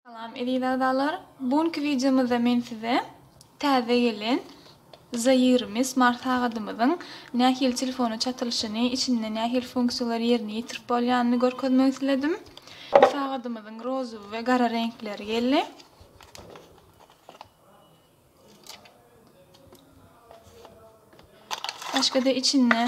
Salam eziz agzalar! Bu günki wideomyzda men size täze gelen Zairmi smart sagadymyzyň nähili telefona çatylyşyny, içinde nähili funksiýalary ýerine ýetirip bolýanyny görkezmek isledim. Bu sagadymyzyň rozowy we gara reňkleri geldi. Başga-da içinde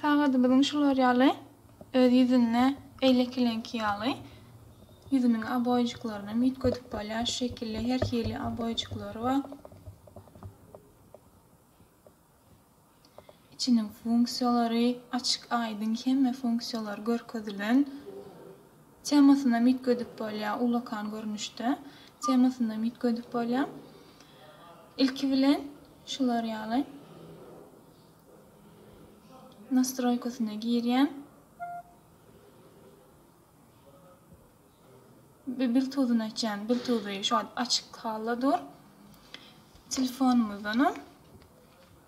Sagadymyzyň şular ýaly öz ýüzünde beýlekileňki ýaly ýüzüniň oboýujyklarynam üýtgedip bolýar. Şu şekilde her hili oboýujyklary bar. Içiniň funksiýalary açyk-aýdyň hemme funksiýalary görkezilen. Temasynam üýtgedip bolýar, ullakan görnüşde temasynam üýtgedip bolýar. Ilki bilen şular ýaly nastroýkasyna girýän. Biltuzyny açýan, biltuzy şu wagt açyk halda dur. Telefonymyzdanam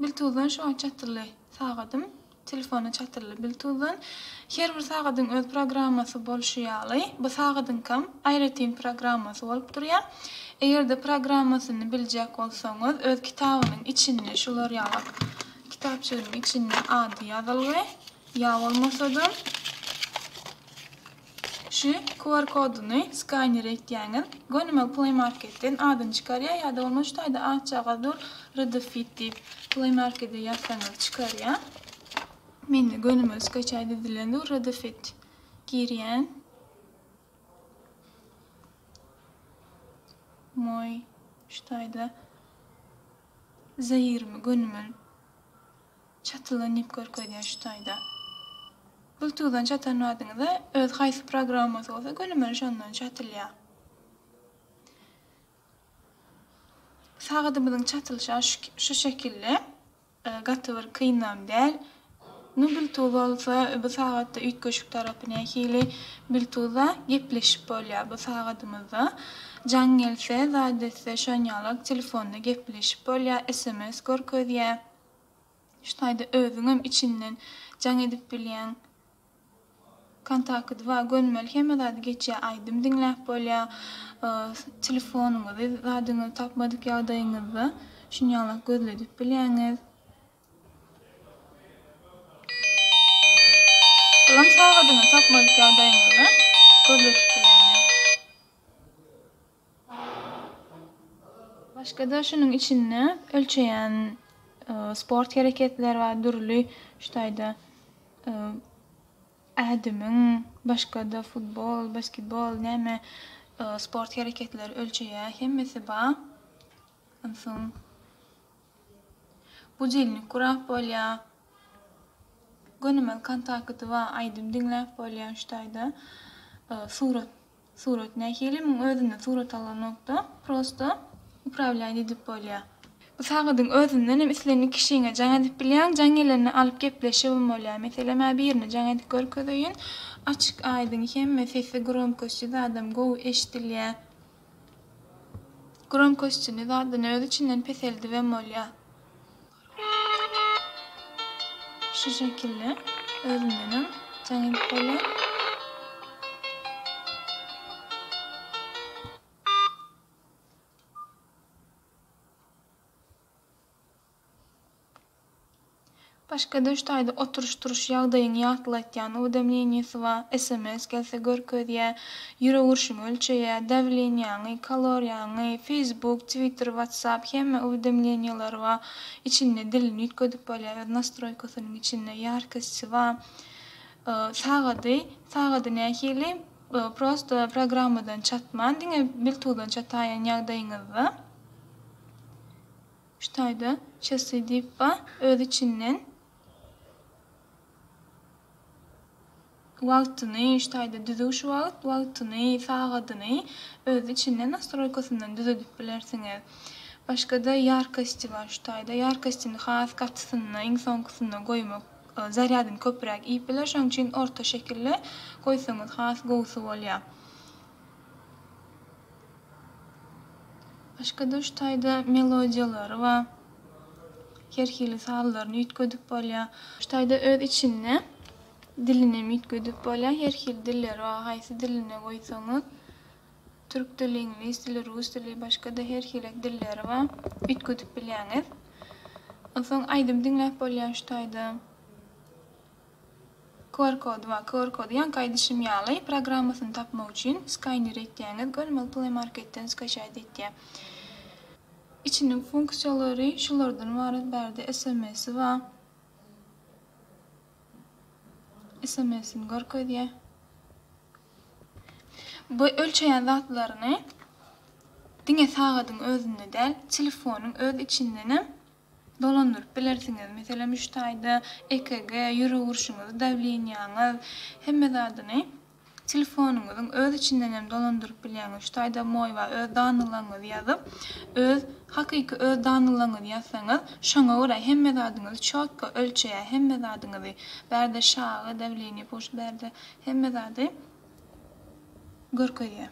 Biltuzdan şoň çatyrly sagadym, telefona çatyrly Biltuzdan. Her bir sagadyň öz programmasy bolşy ýaly, bu sagadyňkam aýratyn programmasy bolup durýar. Eger-de programmasyny biljek bolsaňyz, öz kitabynyň içinde şular ýaly Kitapjygynyň içinde ady ýazylgy, ýa bolmasa-da şu QR koduny skaner etýäňiz, gönümel Play Marketden adyny çykarýar, ýa-da bolmasa şu taýda atjagaz dur, Rdfit diýip, Play Markete ýazsaňyz çykarýar. Mende gönümel skaçaýt edilen dur, Rdfit girýän. Moý şu taýda. Zaýyrmy, gönümel, çatylan diýip görkezýär şu taýda. Bluetooth-dan çatan badyňyzda öz haýsy programmaňyz bolsa gönümel şondan çatylýar. Sagadymyzyň çatylyşy şu şekilli. Gaty bir kynam däl. Indi Biltuz bolsa bu sagatda üýtgeşik tarapy nähili? Biltuzda gepleşip bolýar bu sagadymyzda. Jaň gelse, zat etse şon ýalak telefonda gepleşip bolýar, sms görkezýär. Şu taýda özüňem içinden jaň edip bilýäň. Kontakty bar, gönümel hemme zady geçýär, aýdym diňläp bolýar. Telefonyňyzy, zadyňyzy tapmadyk ýagdaýyňyzda şun ýalak gözledip bilýäňiz. Ylym sagadyny tapmalyk ýagdaýyňyzda gözde tutulýandyr. Başga-da şunuň içinde ölçeýän sport hereketleri bar, dürli şu taýda ädimiň, başga-da futbol, basketbol näme sport hereketleri ölçeýär, hemmesi bar. Onsoň. Budilnik gurap bolýa. Gönümel kontakty ba aýdym diňläp bolýa şu taýda. Surat surat nähili muň özünden surat alynokda prosto upravlýaýt edip bolýa. Bu sagadyň özünden hem islendik kişiňe jaň edip bilýäň jaň gelende alyp gepleşibm bolýa meselem a birine jaň edip görkezeýin açyk aýdyň hemme sesi gromkosty zadam gowy eşdilýä Gromkoştini zaddan öz içinden peseldibem bolýa. Şu şekilde özündenem jaň edip bolýa. Başga döşdaýda oturyş-turuş ýagdaýyňy ýatlatýan uwdemleniýesi bar, sms gelse görkezýä, ýürek urşuňy ölçeýä, dawleniýaňy, kaloriýaňy, feýsbuk, twitter, watsap hemme uwdemleniýeleri bar, içinde dilini üýtgedip bolýa, öz nastroýkasynyň içinde ýarkissi bar. Sagady, sagady nähili, prosto programmadan çatman diňe biltuzdan çataýan ýagdaýyňyzda. Şu taýda Çasy diýip bar, öz içinden wagtyny, şu taýda düzüwş wagt, wagtyny, sagadyny öz içinden nastroýkasyndan düzedip bilersiňiz. Başga-da ýarkosti bar şu taýda, ýarkostini has gatysyna, iň soňkusyna goýmak zarýadyny köpräk iýip biler, şonuň üçin orta şekilde goýsaňyz has gowusy bolýar. Başga duş taýda melodiýalary we her hili sazlaryny üýtgedip bolýar. Duş taýda öz içinde dilini hem üýtgedip bolýar. Her hili dilleri bar. Haýsy dilini goýsaňyz, türk dili, iňlis dili, rus dili, başga-da her hilek dilleri bar. Üýtgedip bilýäňiz. Onsoň aýdym diňläp bolýar şu taýda. QR kody bar. QR kody ýaňky aýdyşym ýaly programmasyny tapmak üçin skaýner etýäňiz görmeli Play Marketden skaçaýt etýär. Içiniň funksiýalary şulardan ybarat bärde sms-i bar. Sms-ini görkezýär. Bu ölçeýän zatlaryny diňe sagadyň özünde däl, telefonyň öz içindenem dolandyryp bilersiňiz. Meselem, üç taýda EKG, ýürek urşuňyzy, dawleniýaňyz, hemme zadyny telefonyňyzyň öz içinden hem dolandyryp bilýäňiz. Üç taýda moýwa öz danylaňyzy ýazyp, öz hakyky öz danylaňyzy ýazsaňyz, şoňa görä hemme zadyňyzy çotko ölçeýär, hemme zadyňyzy, bärde şagy, dawleniýe, puls, bärde hemme zady görkezýär.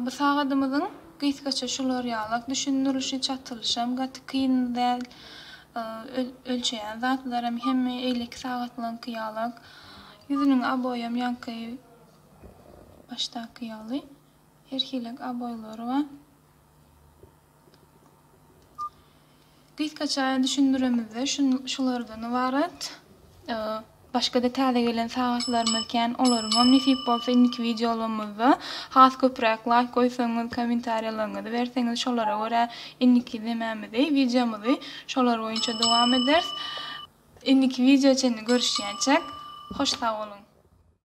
Bu sagadymyzyň gysgaça şular ýalak düşündirişi, çatylyşam gaty kyn däl, ölçeýän zatlaram hemme eýleki sagatlaryňky ýalak, ýüzüniň aboýam ýaňky başdaky ýaly, her hilek aboýlary bar. Gysgaça düşündiremizde şulardan ybarat. Başga-da täze gelen sagatlarymyz kän, olaryňam nesip bolsa indiki wideolarymyzda has köpräk laýk goýsaňyz, kommentariýalaryňyzy berseňiz şolara görä indiki nemämizi, wideomyzy şolar boýunça dowam ederis. Indiki wideo çenli görüşýänçäk, hoş sag boluň!